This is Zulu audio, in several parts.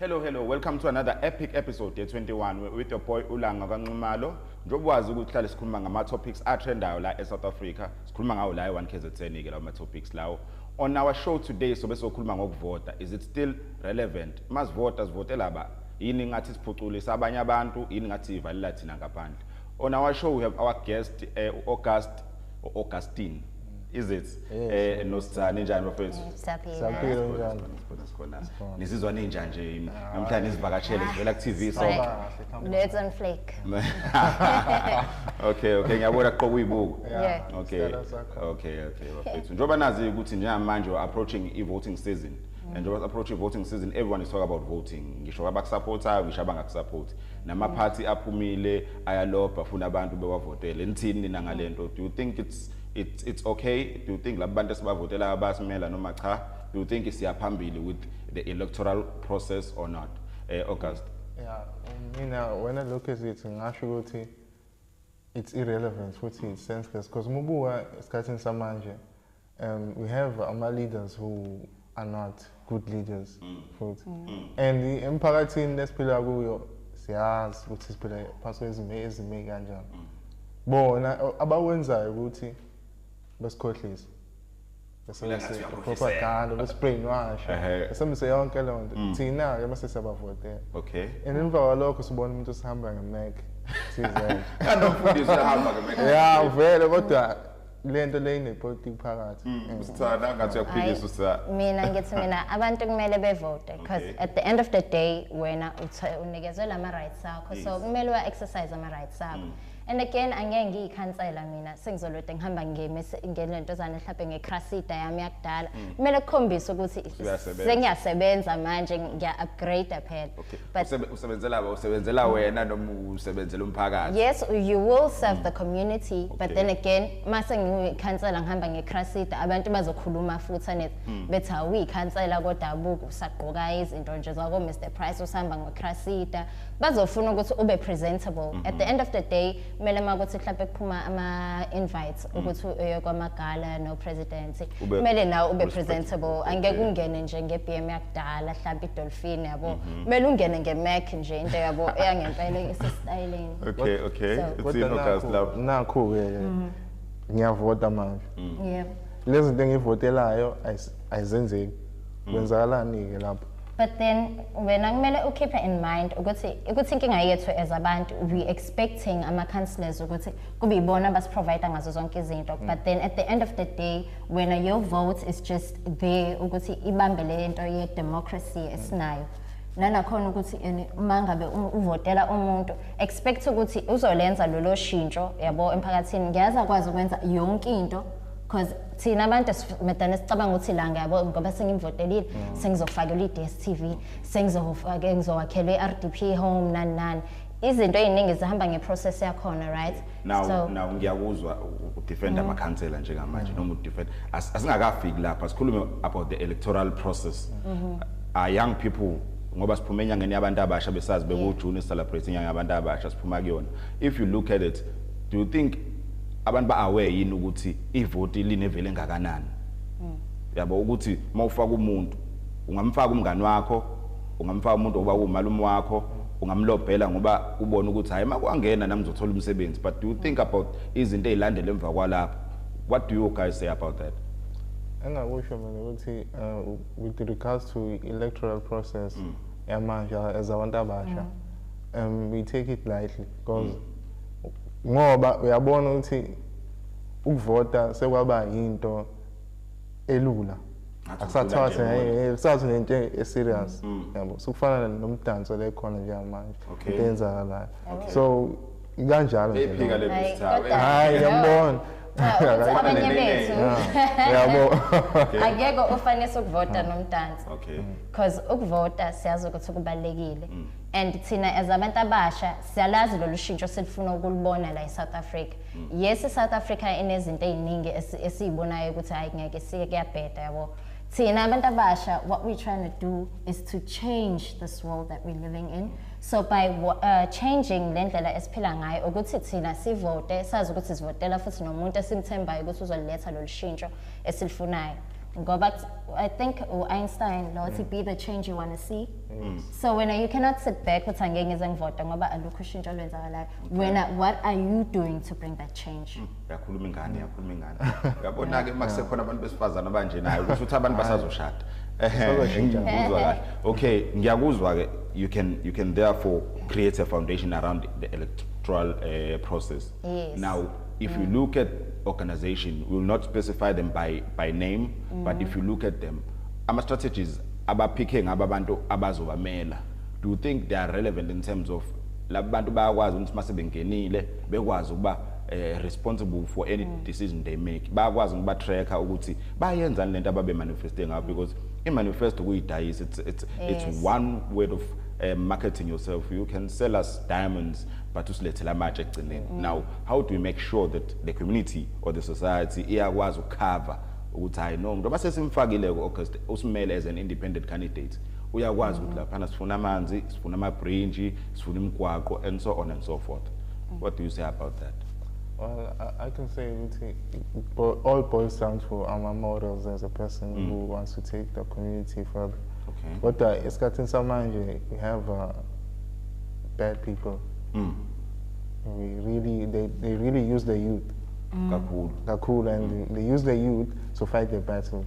Hello, hello. Welcome to another epic episode Day 21 with your boy Ulanga kaNxumalo. Njengoba wazi ukuthi hlale sikhuluma ngama topics atrendayo la eSouth Africa. Sikhuluma ngawo la e1KZN ke lawo ma topics lawo. On our show today sobe sokhuluma ngokuvota. Is it still relevant masivota sivotela ba yini ngathi siphuculisa abanye abantu yini ngathi sivalela thina ngaphandle on our show we have our guest uh, eh, August Augustine is it eh nosizani njani bafethu saphila njani sikhona nisizwa ninja nje namhlanje izivakashele zivela ku TV so let's on flake okay okay ngiyabona qoka uyibuko okay okay okay bafethu njoba nazi ukuthi njengamanje approaching i voting season and njengoba approach i-voting season everyone is talk about voting ngisho abakusapothayo ngisho abangakusapoti namaphathi aphumile ayalobha funa abantu bewavotele nithini nina ngale nto do you think it's, it's, it's okay do you think laba bantu esibavotelayo bayasimela noma cha do you think siyaphambili with the electoral process or not eh, august yeah mina wena lokhu ezithi ngasho ukuthi it's irrelevant futhi it's senseless because uma ubuka esikhathini samanje um, we have ama leaders who are not good leaders mm. futhi mm. mm. and emphakathini lesiphila kuyo siyazi ukuthi siphila phansi kwezimo ezime kanjani mm. bona abawenzayo ukuthi besikhohlise besebenzise propaganda besibrainwash besebenzise yonke leyo nto mm. thina-ke mase siyabavotela okay and emva kwalokho sibona umuntu osihamba ngemeke thizela ya vele kodwa lento le inepolitiki phakathi mm. mm. usithanda angathi uyakuphikisa usithanda mina ngithi mina abantu kumele bevote because at the end of the day wena unikezwe lama rights akho so kumele wa exercise ama rights akho mm. and again angeke ngiyikhansela mina sengizolode ngihamba ngelento zane mhlawumbe ngecrasida yami yakudala kumele kukhombise ukuthi sengiyasebenza manje ngiya-upgrade phela Usebe- usebenzela usebenzela wena noma usebenzela umphakathi yes you will serve the community but Okay. then again mase ngiyikhansela ngihamba ngecrasida abantu bazokhuluma futhi anet Hmm. bethi awuyikhansela kodabuka usagqoka izinto nje zako Mr Price usihamba ngecrasida bazofuna ukuthi ube presentable at the end of the day kumele uma kuthi mhlawumbe kuphuma ama-invites mm. ukuthi uye kwamagala nopresidency kumele nawe ube presentable angeke ungene nje nge-b m yakudala mhlawumbe idolfini yabo mm-hmm. kumele ungene ngemac nje into yabo eyangempela esesitayeleni okay okay nakho-ke mm. ngiyavota manje mm. lezi zinto engiyivotelayo ayizenzeki mm. kwenzakalani-ke lapho but then wena kumele ukhiphe in mind ukuthi ukuthi inkinga yethu as abantu we expecting ama-councillors ukuthi kube yibona abasiprovide ngazo zonke izinto mm. but then at the end of the day wena your vote is just there ukuthi ibambe le nto ye-democracy mm. esinayo nanakhona ukuthi uma ngabe uvotela umuntu expect ukuthi uzolenza lolo shintsho yabo emphakathini ngiyazi akwazi ukwenza yonke into because thina abantu madana sicabanga ukuthi la ngiyabo ngoba sengimvotelile mm. sengizofakelwa i-dstv sengizowakhela i-r d p home nani nani izinto eziningi zihamba ngeprocess yakhona right now so, now ngiyakuzwa udefend mm. amakhansela njengamanje mm. noma udefend as, asingakafiki lapha sikhulume about the electoral process mm -hmm. are young people ngoba siphuma enyangeni yabantu abasha besazi bekujune celebrate inyanga yabantu abasha siphuma kuyona if you look at it do you think abantu ba aware yini ukuthi ivoti linevele engakanani hmm. yabo ukuthi mawufaka umuntu ungamfaka umngani wakho ungamfaka umuntu oba umalume wakho ungamlobhela ngoba ubona ukuthi hayi makwangena nami ngizothola umsebenzi but do you think about izinto ezilandela emva kwalapho what do you guys say about that engakusho mina ukuthi uh, with regards to electoral process mm. yamanje as abantu abasha mm. um we take it lightly because ngoba uyabona ukuthi ukuvota sekwaba yinto elula akusathwala sengaye kusathi nento eserious mm. yabo sokufana nomdanso le khona nje manje into eyenzakalayo so ikanjalo nje hayi yambona abanye bethu yabo akekho ofanele ukuvota nomdansi because ukuvota siyazi ukuthi kubalekile mm. and thina as abantu abasha siyalazi lolu shintsho silifuna ukulibona la eSouth Africa mm. yes South Africa inezinto eziningi esizibonayo ukuthi hayi ngeke sike kuyabheda yabo thina abantu abasha what we trying to do is to change this world that we're living in so by uh, changing le ndlela esiphila ngayo ukuthi thina sivote sazi ukuthi sivotela futhi nomuntu esimthembayo ukuthi uzoletha lolu shintsho esilifunayo ngoba i think u-einstein lo wathi mm. be the change you want to see Mm. so wena you cannot sit back uthi angeke ngize ngivote ngoba alukho ushintsho olwenzakalayo wena what are you doing to bring that change mm. yakhuluma ingane yakhuluma ingane uyabona-ke uma kusekhona abantu besifazane abanje nayo kusho ukuthi abantu basazoshada ngiyakuzwa kahle okay ngiyakuzwa-ke you can, you can therefore create a foundation around the electoral uh, process yes. now if mm. you look at organization we will not specify them by, by name mm. but if you look at them ama-strategies abaphikhe ngabo abantu abazobamela do you think they are relevant in terms of laba bantu bayakwazi ukuthi mase bengenile bekwazi ukuba eh, responsible for any mm. decision they make bayakwazi ukuba tracker ukuthi bayenzani lento ababe manifeste ngayo because i manifesto kuyidayisa it's it's yes. it's one word of uh, marketing yourself you can sell us diamonds but usilethela amatshe ekugcineni mm. now how do we make sure that the community or the society iyakwazi ukucover ukuthi hayi no ngoba sesimfakile ku August usimele as an independent candidate uyakwazi ukuthi laphana sifuna amanzi sifuna ama bridge sifuna imigwaqo and so on and so forth what do you say about that Well, I, I can say ukuthi all boils down to our morals as a person mm. who wants to take the community further. Okay. Kodwa esikhathini samanje we have uh, bad people. Mm. We really they, they really use the youth. mm. kakhulu kakhulu and mm. they use the youth to fight their battles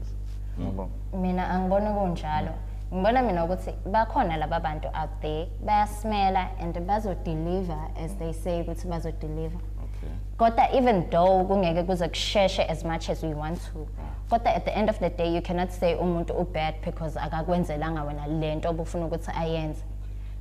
yabo mm. mina angibona kunjalo ngibona mina ukuthi bakhona laba bantu out there bayasimela and bazodeliver as they say ukuthi bazodeliver kodwa even though kungeke kuze kusheshe as much as we want to kodwa at the end of the day you cannot say umuntu ubad because akakwenzelanga wena lento obufuna ukuthi ayenze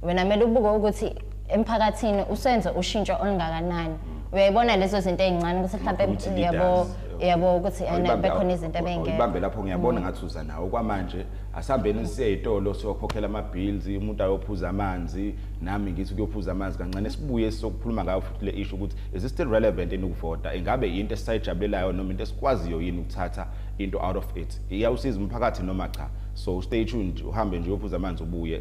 wena kumele ubuke ukuthi emphakathini usenze ushintsho olungakanani uyayibona lezo zinto ezincane ukuthi mhlawumbe yabo yabo ukuthi bekhona izinto ebengeke ibambe lapho ngiyabona mm. ngathi uza nawo kwamanje asihambeni siye ezitolo siyokhokhela ama bills umuntu ayophuza amanzi nami ngithi kuyophuza amanzi kancane sibuye sokukhuluma ngayo futhi le issue ukuthi is it still relevant in ukuvota ingabe into esisayijabulelayo noma into esikwaziyo yini ukuthatha into out of it iyawusiza umphakathi noma cha so stay tuned uhambe nje uyophuza amanzi ubuye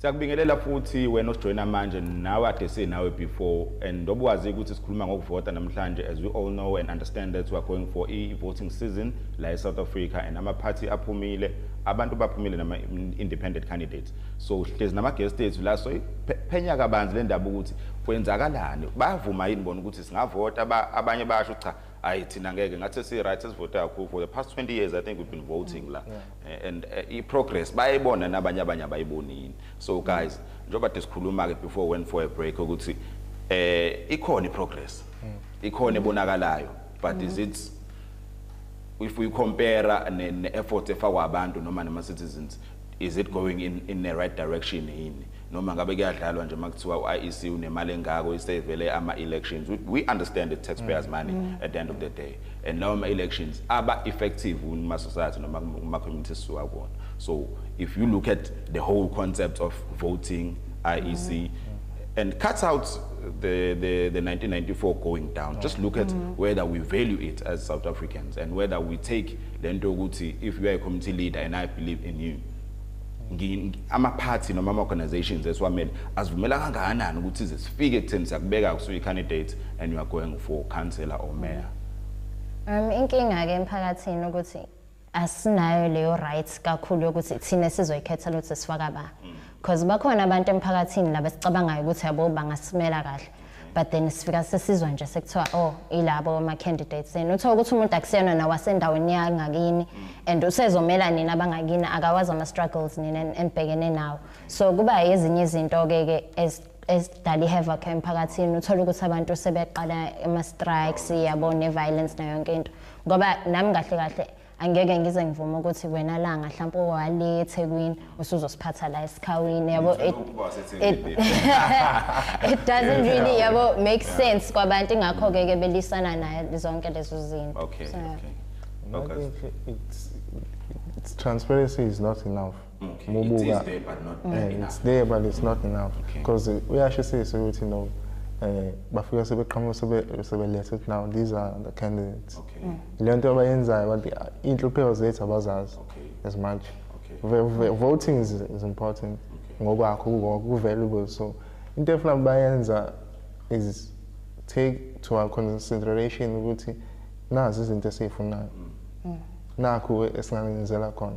siyakubingelela futhi wena osijoyina manje nawe ade sinawe before and ndoba wazi ukuthi sikhuluma ngokuvota namhlanje as we all know and understand that we are going for i-voting season la e-south africa and ama-party aphumile abantu baphumile nama independent candidates so hlezi nama guest ethu la so phenya kabanzi le ndaba ukuthi kwenzakalani bayavuma yini bona ukuthi singavota abanye basho cha hayi thina ngeke ngathi si right sivota kakhulu for the past 20 years i think we've been voting mm, la yeah. and uh, eh, i progress bayibona nabanye abanye abayibonini so guys njengoba disikhuluma ke before went for a break ukuthi eh ikhona i progress mm. ikhona ebonakalayo but mm -hmm. is mm-hmm. it if we compare ne, ne effort efakwa abantu noma nama citizens is it going in in the right direction yini noma ngabe kuyadlalwa nje makuthiwa uIEC unemali engako isevele ama elections we, we understand the taxpayers mm. money mm. at the end of the day and lawo ma elections aba effective kuma society noma kuma communities siwa kona so if you look at the whole concept of voting IEC mm. and cut out the, the, the 1994 going down. Just look at mm. whether we value it as South Africans and whether we take lento ukuthi if you are a community leader and I believe in you. ama-party noma ama-organizations esiwamele azivumela kangakanani ukuthi ize sifike ekutheni siyakubeka kusuyi-candidate and you are going for councillor or mayor um inkinga-ke emphakathini ukuthi asinayo leyo right kakhulu yokuthi thina sizoyikhetha lokuthi sifaka ba because bakhona abantu emphakathini laba sicabangayo ukuthi yabo bangasimela kahle but then sifika sesizwa nje sekuthiwa oh ilabo ama candidates and uthola ukuthi umuntu akusiyona nawasendaweni yangakini and usezomela nina abangakini akawazi ama struggles nina enibhekene nawo so kuba ezinye izinto ke ke esidala i-havoc emphakathini uthole ukuthi abantu sebeqala ama-strikes yabo ne-violence nayo yonke into ngoba nami kahle kahle angeke ngize ngivume ukuthi wena langa mhlawumbe owale ethekwini usuzosiphatha la esikhawini yabo it doesn't really yabo make sense kwabantu ingakho-ke ke belisana naye zonke lezo zinto okay, okay. okay. It's, it's transparency is not enough okay. mubuka it is there but not mm. enough it's there but it's not enough because okay. uyashisisa ukuthi no eh bafika sebeqhamuka sebe sebelethe ukuthi now these are the candidates okay mm. le nto abayenzayo bathi ah, inhlupheko zethu abazazi okay as much okay voting is, is important okay. ngokwakho ku valuable so into efuna bayenza is take to our consideration ukuthi nazi izinto esizifunayo mm. mm. nakho esingangenzela khona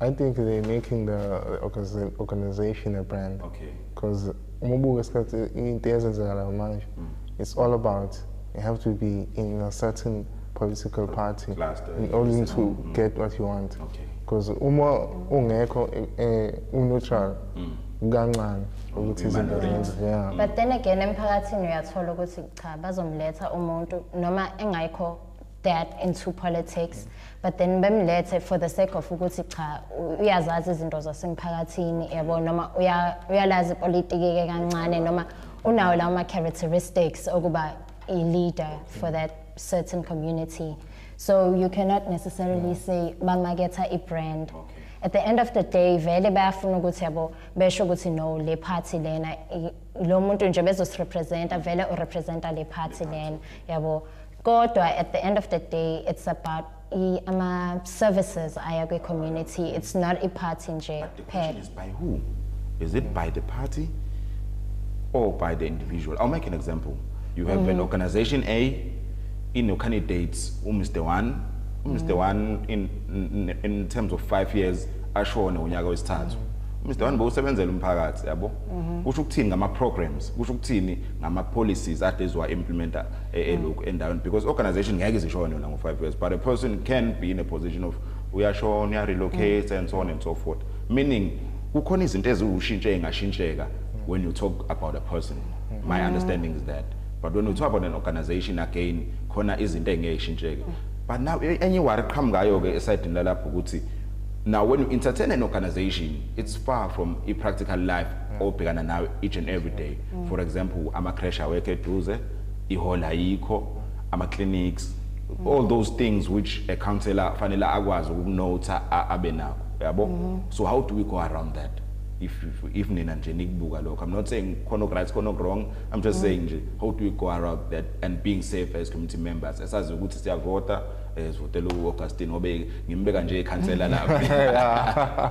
I think they're making the organization a brand. Okay. Because umubuka isikhathi into ezenzakalayo manje mm. it's all about you have to be in a certain political party in order to mm. get what you want because okay. uma ungekho eh, eh, uneutral mm. kancane ukuthi izinto zenze yeah but then again emphakathini uyathola ukuthi cha bazomletha umuntu noma engayikho that into politics but then bemlethe for the sake of ukuthi cha uyazazi izinto zasemphakathini yabo noma uyalazi ipolitiki ke kancane noma unawo lawo ma characteristics okuba a leader for that certain community so you cannot necessarily say bamaketha i brand okay. at the end of the day vele bayafuna ukuthi yabo besho ukuthi no le party lena lo muntu nje bezosirepresenta vele urepresenta le party lena yabo kodwa at the end of the day it's about ama services aya kwi community it's not a party nje kuphela is by who is it by the party or by the individual i'll make an example you have mm. an organization a in your candidates u mr 1 u mr 1 mm. in, in in terms of 5 years ashone unyaka wesithathu mm. Mr One bowusebenzela umphakathi yabo mhm. kusho ukuthini ngama programs kusho ukuthini ngama policies ade ziwa implementa e- eloku mm. endaweni because organization ngeke izishone yona ngo-five years but a person can be in a position of uyashona uyarelocate mm. and so on and so forth meaning kukhona izinto eziwushintshe engashintsheka mm. when you talk about a person my understanding is that but when you talk about an organization again khona izinto engeke ishintsheke but now e-, enye iwari qhamukayo-ke esayidini lalapho ukuthi now when you entertain an organization it's far from i-practical life obhekana nayo each and every day for example ama-crash awekho eduze ihall ayikho ama clinics mm. all those things which a counselor fanele akwazi ukunotha abe nako yabo mm -hmm. so how do we go around that if if, if nina nje nikubuka lokho i'm not saying khona right khona wrong i'm just mm -hmm. saying nje how do we go around that and being safe as community members esazi ukuthi siyavota ezivotela eh, uAugustine ngobe ngimbeka nje ikhansela lapha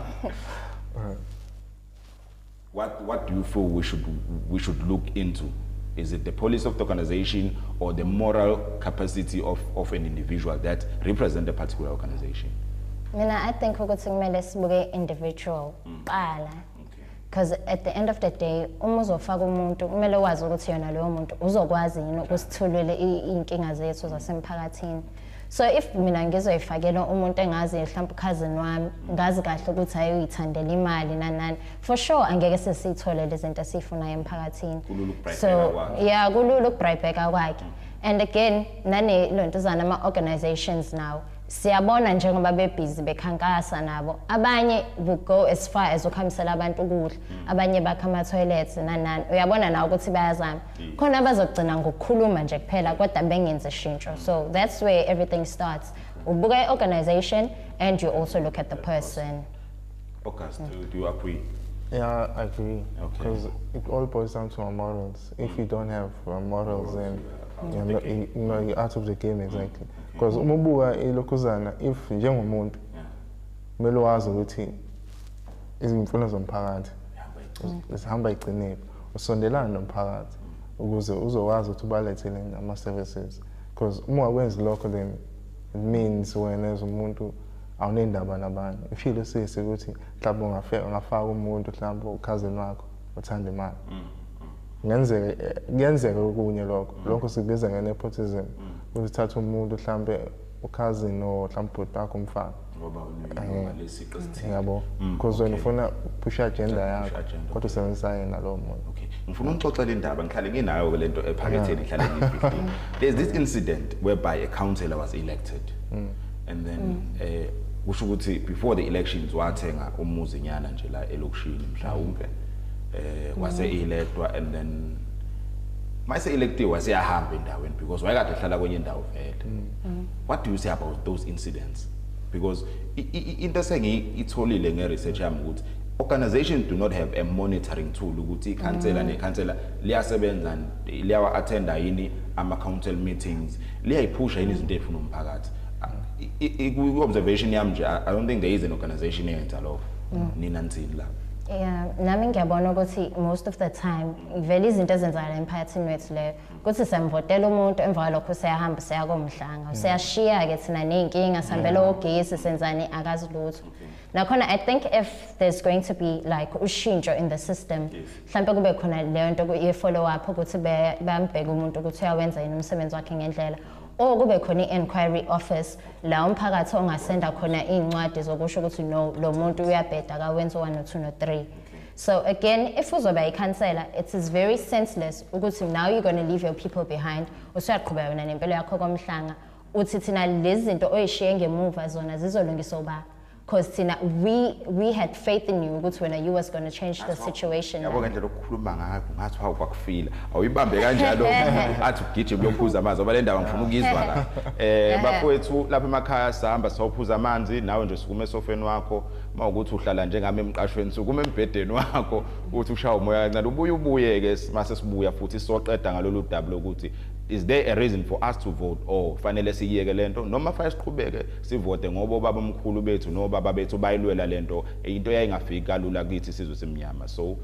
What, what do you feel we should, we should look into? Is it the policy of the organization or the moral capacity of, of an individual that represent a particular organization? Mina, I think ukuthi kumele sibuke individual mm. kuqala. Because at the end of the day, uma uzofaka umuntu kumele wazi ukuthi yona loyo muntu uzokwazi yini ukusithulele iy'nkinga zethu zasemphakathini. so if mina ngizoyifakela umuntu engazi mhlawumbe ukhazini wami ngazi kahle ukuthi ayoyithandela imali nanani for sure angeke sesiyithole lezinto esiyifunayo emphakathini so yeah kulula ukubribheka kwakhe and again nane lontuzana ama organizations now siyabona njengoba bebhizi bekhankasa nabo abanye will go as far as ukuhambisela abantu ukudla abanye bakha ama toilets nanani uyabona nawe ukuthi bayazama khona abazogcina ngokukhuluma nje kuphela kodwa bengenzi shintsho so that's where everything starts ubuka i-organization and you also look at the person August, mm. do you agree? Yeah, I agree. Because okay. it all boils down to our morals. If you don't have uh, morals, then you're, not, you, you know, you're out of the game, exactly. Because mm. umubuka ilokuzana, if njengomuntu, kumele wazi ukuthi izimfuno zomphakathi zihamba iqinile usondelane nomphakathi ukuze uzokwazi ukuthi ubalethele ama-services because uma wakwenzi lokho then it means wena as umuntu awunendaba nabanye ifile usisi ukuthi mhlawumbe ungafaka umuntu mhlawumbe ukhazini wakho uthanda imali mm, mm. ngenzeke kuyenzeka okunye lokho mm. lokho sikubiza nge-nepotism ukuthi uthatha umuntu mhlawumbe ukhazini or mhlawumbe ubhuti bakho umfana ngoba unalesiqo eh, esithile yabo mm, because wena ufuna uphusha agenda yakho kodwa usebenzisa yena lowo muntu okay ngifuna ungixoxe le ndaba ngihlale nginayo ke lento ephaketheni ngihlale ngiyifihlile there's this incident whereby a councillor was elected mm. and then mm. eh kusho ukuthi before the elections wathenga umuzi nyana nje la elokishini mhlawumbe eh wase electwa and then mayise electiwe waseyahamba endaweni because wayekade ehlala kwenye indawo vele mm. what do you say about those incidents because into esengiyitholile ngeresearch yami ukuthi organization do not have a monitoring tool ukuthi ikhansela mm. nekhansela liyasebenza liyawa attenda yini ama council meetings liyayiphusha yini izinto efuna umphakathi ku observation yami nje i don't think there is an organization eyenza lokho mm. nina nithini la yeah nami ngiyabona ukuthi most of the time vele izinto ezenzakala emphakathini wethu leyo kuthi semvotela umuntu emva kwalokho useyahamba useya komhlanga useyashiya-ke mm. thina ney'nkinga sihambele ogesi senzani akazi lutho nakhona i think if there's going to be like ushintsho in the system mhlawumpe kube khona leyo nto ye-follow up ukuthi bambheke umuntu ukuthi uyawenza yini umsebenzi wakhe ngendlela or kube khona i-enquiry office la umphakathi ongasenda khona iy'ncwadi zokusho ukuthi no lo muntu uyabheda kawenzi u-one no-two no-three So again, if uzoba ikhansela, it is very senseless ukuthi now you're going to leave your people behind. Usuyaqhubeka yona nempilo yakho komhlanga. Uthi thina lezi zinto oyishiye ngemuva zona zizolungisa uba because thina we we had faith in you ukuthi wena you was going to change the situation. Yabo ngendlela okukhuluma ngayo ngathi hawu kwakufila. Awuyibambe kanjalo athi ugijima uyophuza amanzi ngoba le ndaba ngifuna ukuyizwa la. Eh bafowethu lapha emakhaya sihamba sawuphuza amanzi nawe nje sukume esofeni wakho uma ukuthi uhlala njengami emqashweni sukuma embhedeni wakho uthi ushaya umoya kancane ubuye ubuye-ke mase sibuya futhi soqeda ngalolu daba lokuthi is there a reason for us to vote or fanele siyiyeke le nto noma fanele siqhubeke sivote ngoba obaba omkhulu bethu nobaba bethu bayilwela le nto into yayingafiki kalula kithi sizwe simnyama so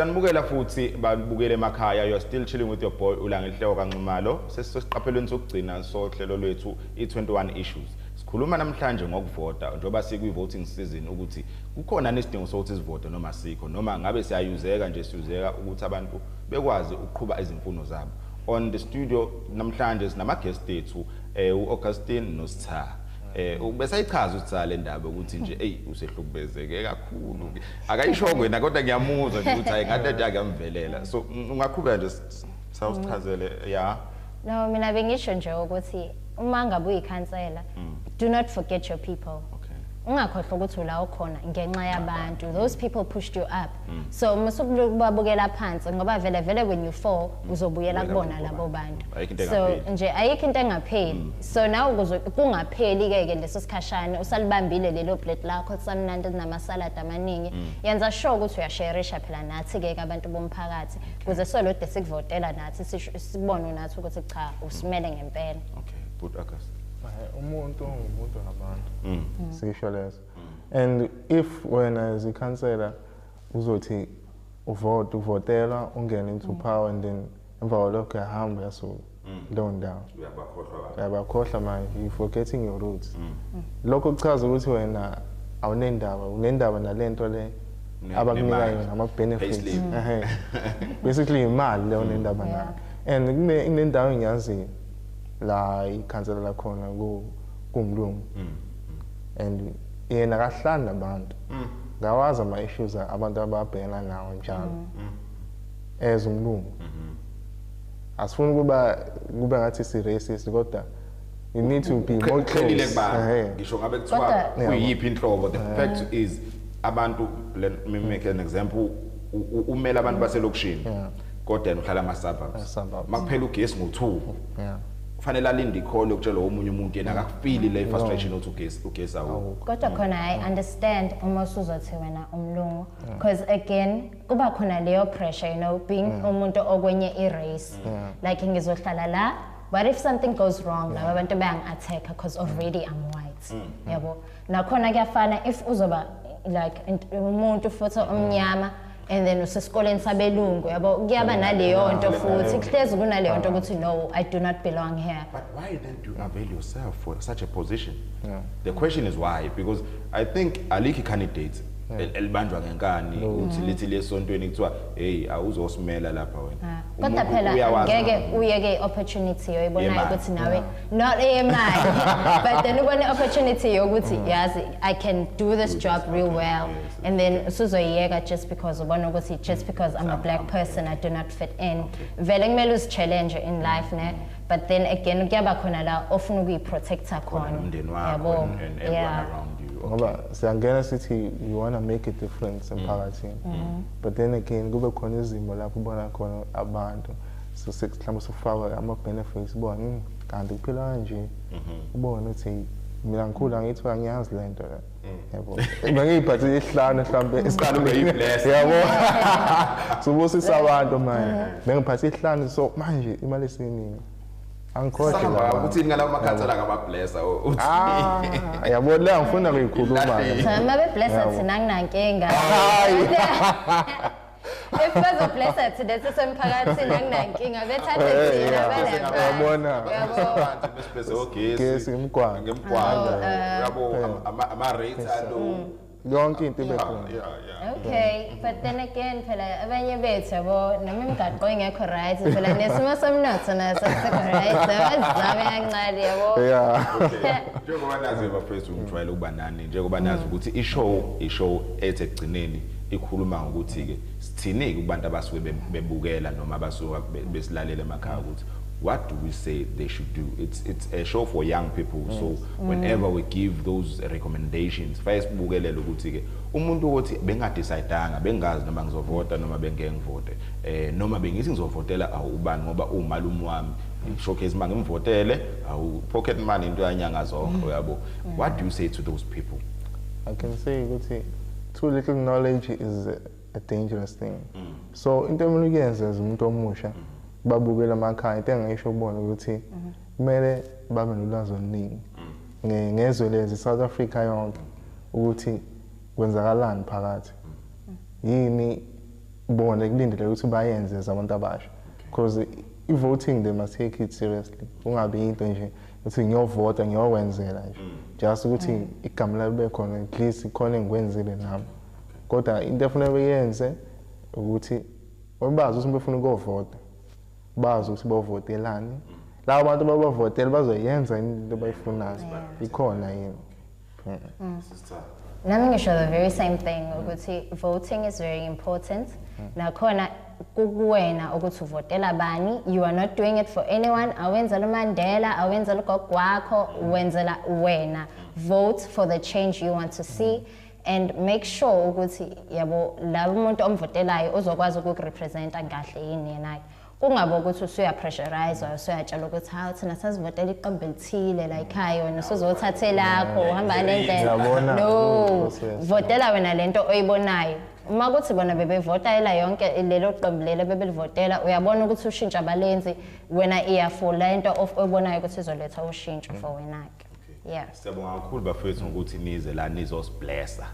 Sanibukela futhi babukele emakhaya you're still chilling with your boy ulangenhloko kanxumalo sesisesiqaphelweni sokugcina sohlelo lwethu i21 issues sikhuluma namhlanje ngokuvota njengoba sikwi voting season ukuthi Kukhona nesidingo sokuthi sivote noma sikho noma ngabe siyayuzeka nje siyuzeka ukuthi abantu bekwazi ukuqhuba izimfuno zabo. On the studio namhlanje sinama guest ethu eh uAugustine noSitha. Eh ubesayichaza uSitha le ndaba ukuthi nje hey usehlukubezeke kakhulu. Akayishongo yena kodwa ngiyamuzwa nje ukuthi hayi ngathi akuyamvelela. So ungaqhubeka nje sawusichazele ya. Yeah. No, mina bengisho nje ukuthi uma ngabe uyikhansela mm. do not forget your people. Okay. Ungakhohlwa ukuthi ula okhona ngenxa yabantu. Those people pushed you up. Mm. So musukubabukela phansi ngoba vele vele when you fall mm. uzobuyela kubona labo bantu. So nje ayikho into engapheli. Mm. So now ukuze kungapheli ke ke leso sikhashana usalibambile lelo plate lakho samnandi nama salad amaningi. Mm. Yenza sure ukuthi uyasharisha phela nathi ke abantu bomphakathi. kuze solode sikuvotela nathi sibone nathi ukuthi cha usimele ngempela okay good august umuntu umuntu ngabantu mm. mm. sikisho leso mm. and if wena as ikhansela uzothi uvote uvotelwa ungene into power and then emva kwalokho uyahamba uyasuka mm. leyo ndawo uyabakhohlwa manje you forgetting your roots mm. mm. lokho kuchaza ukuthi wena awunendaba unendaba nale nto le abakunika yona ama-benefits basically yimali leyo nendaba nayo and kunendawo engiyaziyo la ikhansela lakhona kumlungu and yena kahlani nabantu ngawazi ama-issues abantu ababhekana nawo njalo as umlungu mm-hmm. asifuni ukuba kube ngathi si racist kodwa you need to be more clearly kubani ngisho ngabe kuthiwa kuyiphi inhlobo the fact is abantu let me make an example umela abantu baselokishini kodwa yena uhlala ama suburbs makuphela ugesi ngo2 kufanele alinde ikhole ukutshela omunye umuntu yena akafili le frustration othi ugesi ugesi awukho kodwa khona i understand uma usuzothi wena umlungu because again kuba khona leyo pressure you know being mm. umuntu okwenye i-race yeah. like ngizohlala la what if something goes wrong laba bantu bayangi-attack because already i'm white mm. mm. yabo nakhona kuyafana if uzoba like umuntu futhi mm. omnyama and then usesikoleni sabelungu yabo kuyaba naleyo nto futhi kuhlezi kunaleyo nto ukuthi no i do not belong here but why then do you avail yourself for such a position yeah. the question is why because i think alikho i-candidate Eh. elibanjwa ngenkani ukuthi lithi lesontweni kuthiwa hey awuzosimela lapha wena ah. kodwa phela ngeke uyeke opportunity yoyibonayo ukuthi nawe not eyemali but then ubone opportunity yokuthi mm. yazi i can do this job real well and then usuzoyiyeka just because ubona ukuthi just because i'm a black person i do not fit in vele kumele uzichallenge in life ne but then again kuyaba khona la ofuna ukuyiprotecta khona umndeni wakho and everyone yeah. around you ngoba okay. siyangena sithi we want to make a difference mm. emphakathini mm. mm. but then again kube khona izimo lapho ubona khona abantu so mhlawumbe sifakwe ama-benefits ubona hmm, kanti kuphila kanje mm-hmm. ubone ukuthi mina ngikhula ngithiwa ngiyazi le nto le yabo bengiyiphathe isihlanu mhlawumbe isihlanu beyibless yabo sobusisa abantu manje eh. bengiphathe isihlanu so manje imali esiningi angikhohle la ukuthi yini ngalawo makhansela kabablessa uthi ah, yabo la ngifuna kuyikhuluma cha mabe blessa thina nginankinga if bezo blessed today sisemphakathini anginankinga bethanda thina bayabona abantu besibeze ogesi ngemgwaqo ngemgwaqo oh, uh, yabo ama rates alo mm. yonke into ibe khona okay but then again phela abanye bethu yabo noma imigaqo ingekho right phela nesimo somnotho naso sikho right abazizabe kancane yabo njengoba nazi bafethu ngijwayele ukuba nani njengoba nazi ukuthi ishow ishow ethe ekugcineni ikhuluma ngokuthi-ke sithini-ke kubantu abasuke bebukela noma abasuke besilalela emakhaya ukuthi what do we say they should do it's, it's a show for young people yes. so mm. whenever we give those recommendations faye sibukelele ukuthi-ke umuntu ukuthi bengadecide-anga bengazi noma ngizovota noma bengengivote eh noma bengithi ngizovotela awu ubani ngoba umalume wami showcase uma ngimvotele awu pocket money into yanyanga zonke mm. uyabo what do you say to those people i can say ukuthi too little knowledge is a dangerous thing mm. so into emele ukuyenza as umuntu omusha mm. babukela amakhaya into engayisho kubona ukuthi mm-hmm. kumele babe nolwazi oluningi mm. ngezwe lezi south africa yonke ukuthi kwenzakalani phakathi mm. yini bona kulindele ukuthi bayenze zabantu abasha because i-voting they must take it seriously kungabi into nje ukuthi ngiyovota ngiyokwenzela nje mm. just ukuthi mm. igama lami libe khona at least khona engikwenzile nami kodwa into efuna beyenze ukuthi bazi ukuthi befuna ukuyovota bazi ukuthi bovotelani mm. labo bantu babavotela bazoyenza into abayifunayo ikhona yini nami ngisho the very same thing ukuthi voting is very important nakhona kukuwena ukuthi uvotela bani you are not doing it for anyone awenzela umandela awenzela ugogo wakho wenzela wena vote for the change you want to see mm. and make sure ukuthi yabo labo umuntu omvotelayo uzokwazi ukukurepresenta kahle yini yena kungabe ukuthi usuyapressurizwa usuyatshelwa ukuthi hawu thina sasivotela iqembu elithile la ekhaya wena usuzothatha elakho uhamba nendlela no votela wena le nto oyibonayo uma kuthi bona bebevota ela yonke lelo qembu lelo bebelivotela uyabona ukuthi ushintsho abalenzi wena iyafula into oyibonayo ukuthi izoletha ushintsho for wena-ke okay. yeah siyabonga kakhulu bafethu ngokuthi nize la nizosiblessa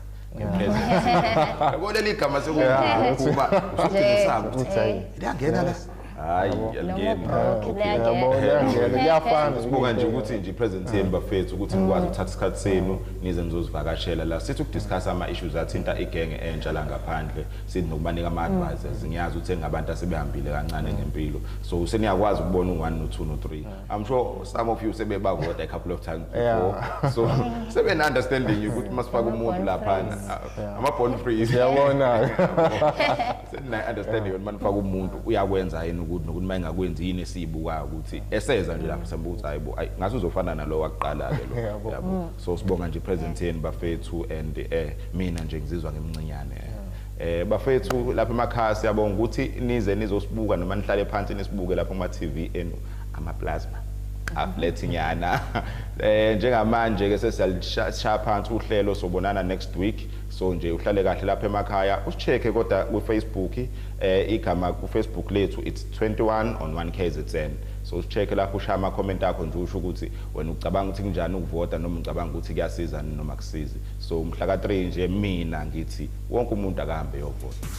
yabo leli gama sekuba usudingisaka ukuthi liyangena la hayi yaliyafana sibuka nje ukuthi nje i-presence yenu bafethu ukuthi nikwazi ukuthatha isikhathi senu nize nizozivakashela la sithi ukudiscuss ama-issues athinta igenge entsha la ngaphandle sithi nokubanika ama-advisors ngiyazi ukuthi engabantu asebehambile kancane ngempilo so seniyakwazi ukubona u-one no-two no-three I'm sure some of you sebebavota a couple of times before. Yeah. So seven understanding you ukuthi masifaka umuntu lapha uh, ama born free. Siyabona. Sena understanding ukuthi manifaka umuntu uyakwenza yini ukuthi nokuthi mayingakwenzi yini esibuka ukuthi eseza nje lapha sembuza hayibo ngathi uzofana nalowo akuqala ke lo. Yabo. Mm. So sibonga nje present yenu bafethu and eh mina nje ngizizwa ngimncinyane. Eh. eh bafethu lapha emakhaya siyabonga ukuthi nize nizosibuka noma nihlale phansi nisibuke lapha kuma TV enu amaplasma aflethi nyana eh njengamanje ke sesiyalishaya phansi uhlelo sobonana next week so nje uhlale kahle lapha emakhaya usicheke kodwa ku Facebook eh igama ku Facebook lethu it's 21 on 1 KZN so usicheke lapho ushaya ama comment akho nje usho ukuthi wena ucabanga ukuthi kunjani ukuvota noma ucabanga ukuthi kuyasiza noma kusizi so umhla ka 3 nje mina ngithi wonke umuntu akahambe yovota